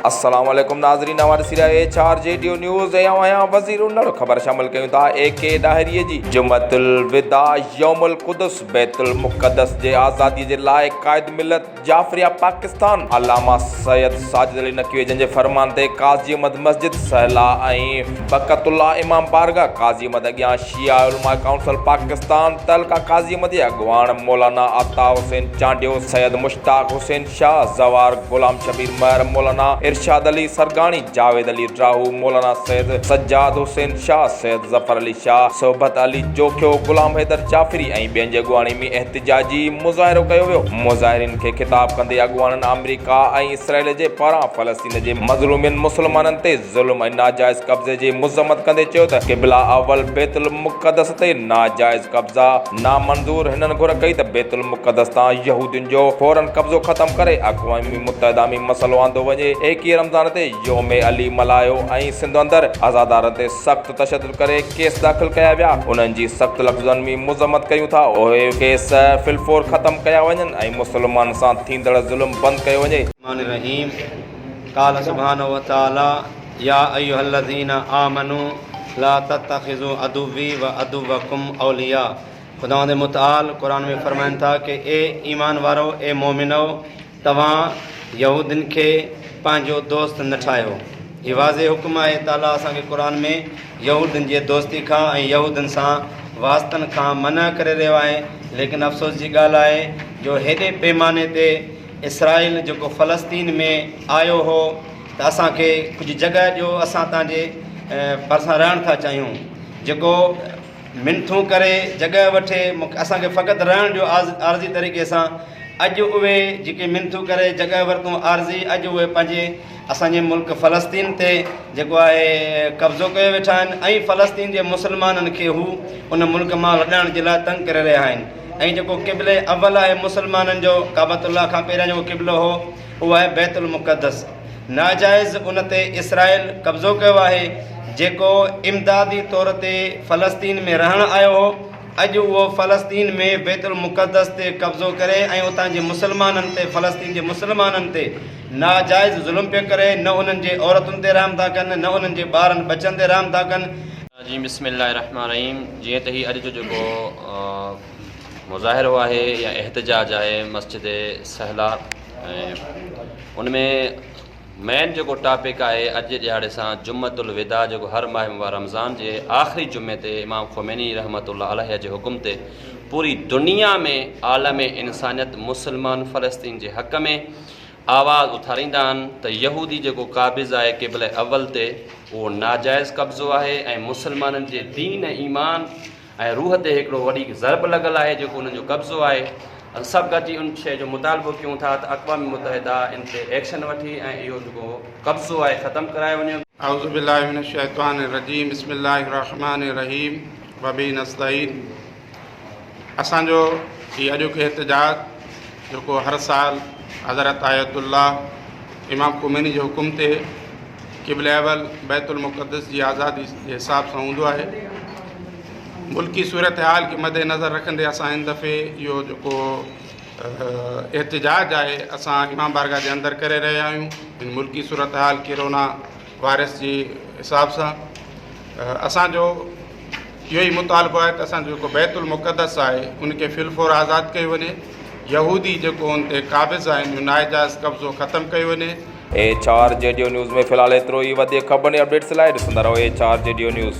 السلام عليڪم ناظرين اوهان ڏسي رهيا H R G Dev news ۽ آئون آهيان وزير هونئر خبر شامل ڪيون ٿا اي ڪي ڏاهري جي جمعت الوداع يوم القدس بيت المقدس جي آزاديء جي لاء قائد ملت جعفريه پاڪستان علامه سيد ساجد علي نقوي جن جي فرمان تي قاضي احمد مسجد سهلا ۽ بقت الله امام بارگاهه قاضي احمد اڳيان شيعه علماء ڪائونسل پاڪستان تعلقه قاضي احمد جي اڳواڻ مولانا عطا حسين چانڊيو سيد مشتاق حسين شاهه زوار، غلام شبير مهر، مولانا ارشاد علي سرگاڻي، جاويد علي ڊراهو، مولانا سيد سجاد حسين شاهه، سيد ظفر علي شاهه، صحبت علي جوکيو، غلام حيدر جعفري ۽ ٻين جي اڳواڻي ۾ احتجاجي مظاهرو ڪيو ويو. مظاهرين کي خطاب ڪندي اڳواڻن آمريڪا ۽ اسرائيل جي پاران فلسطين جي مظلومين مسلمانن تي ظلم ۽ ناجائز قبضي جي مذمت ڪندي چيو ته قبلا اول بيت المقدس تي ناجائز قبضا نامنظور هنن گهر ڪئي ته بيت المقدس تان يهودين جو فورن قبضو ختم ڪري اقوام متحده ۾ مسئلو آندو وڃي ايڪيهه رمضان تي يوم علي ملهايو ۽ سنڌ اندر عزادارن تي سخت تشدد ڪري ڪيس داخل ڪيا ويا انهن جي سخت لفظن ۾ مذمت ڪيون ٿا اهي ڪيس فلفور ختم ڪيا وڃن ۽ مسلمانن سان ٿيندڙ ظلم بند ڪيو وڃي. الرحمن الرحيم قال سبحانه وتعالي، يا ايها الذين آمنو لا تتخذو عدوي وعدوکم اولياء خداوند متعال قرآن ۾ فرمائن ٿا ڪه اي ايمان وارؤ اي مؤمنؤ توهان يهودين کي پنهنجو دوست نه ٺاهيو هي واضح حڪم آهي تعاليٰ اسان کي قرآن ۾ يهودين جي دوستي کان ۽ يهودين سان واسطن کان منع ڪري رهيو آهي ليڪن افسوس جي ڳالهه آهي جو هيڏي پيماني تي اسرائيل جيڪو فلسطين ۾ آيو هو ته اسان کي ڪجهه جڳهه ڏيو اسان تان جي ڀرسان رهڻ ٿا چاهيون جيڪو منٿون ڪري جڳهه وٺي اسان کي فقط رهڻ ڏيو عارضي طريقي سان اڄ اهي جيڪي منٿون ڪري جڳهه ورتون عارضي اڄ اهي پنهنجي اسانجي ملڪ فلسطين تي جيڪو آهي قبضو ڪيو ويٺا آهن ۽ فلسطين جي مسلمانن کي هو ان ملڪ مان لڏائڻ جي لاء تنگ ڪري رهيا آهن ۽ جيڪو قبله اول آهي مسلمانن جو ڪعبت الله کان پهريان جيڪو قبلو هو اهو آهي بيت المقدس ناجائز ان تي اسرائيل قبضو ڪيو آهي جيڪو امدادي طور تي فلسطين ۾ رهڻ آيو هو اڄ اهو فلسطين ۾ بيت المقدس تي قبضو ڪري ۽ اتان جي مسلمانن تي فلسطين جي مسلمانن تي ناجائز ظلم پيو ڪري نه انهن جي عورتن تي رحم ٿا ڪن نه انهن جي ٻارن ٻچن تي رحم ٿا ڪن الرجيم بسم الله الرحمٰن الرحيم جيئن ته هي اڄ جو جيڪو مظاهرو آهي يا احتجاج آهي مسجد سهلا ۽ ان ۾ مين جيڪو ٽاپڪ آهي اڄ جي ڏيهاڙي سان جمعت الوداع جيڪو هر ماهه مبارڪ رمضان جي آخري جمعي تي امام خوميني رحمت الله عليه جي حڪم تي پوري دنيا ۾ عالم انسانيت مسلمان فلسطين جي حق ۾ آواز اٿاريندا آهن ته يهودي جيڪو قابض آهي قبله اول تي اهو ناجائز قبضو آهي ۽ مسلمانن جي دين ۽ ايمان ۽ روح تي هڪڙو وڏي ضرب لڳل آهي جيڪو انهن جو قبضو آهي اسان سڀ گڏجي ان شئي جو مطالبو ڪيون ٿا ته اقوام متحده ان تي ايڪشن وٺي ۽ اهو جيڪو قبضو آهي ختم ڪرايو وڃي. اعوذ باللہ من الشیطان الرجیم بسم الله الرحمن الرحیم وبه نستعین. اسان جو هي اڄوڪي احتجاج جيڪو هر سال حضرت آيت الله امام خميني جي حڪم تي قبل اول بيت المقدس جي آزادي جي حساب سان هوندو آهي ملڪي صورتحال کي مد نظر رکندي اسان هن دفعي اهو جيڪو احتجاج آهي اسان امام بارگاهه جي اندر ڪري رهيا آهيون ملڪي صورتحال ڪرونا وائرس جي حساب سان اسان جو اهو ئي مطالبو آهي ته اسان جو جيڪو بيت المقدس آهي ان کي في الفور آزاد ڪيو وڃي يهودي جيڪو ان تي قابض آهن جو ناجائز قبضو ختم ڪيو وڃي H R G Dev news ۾ في الحال ايترو ئي وڌيڪ خبرن ۽ اپڊيٽس لاء ڏسندا رهو H R G Dev news.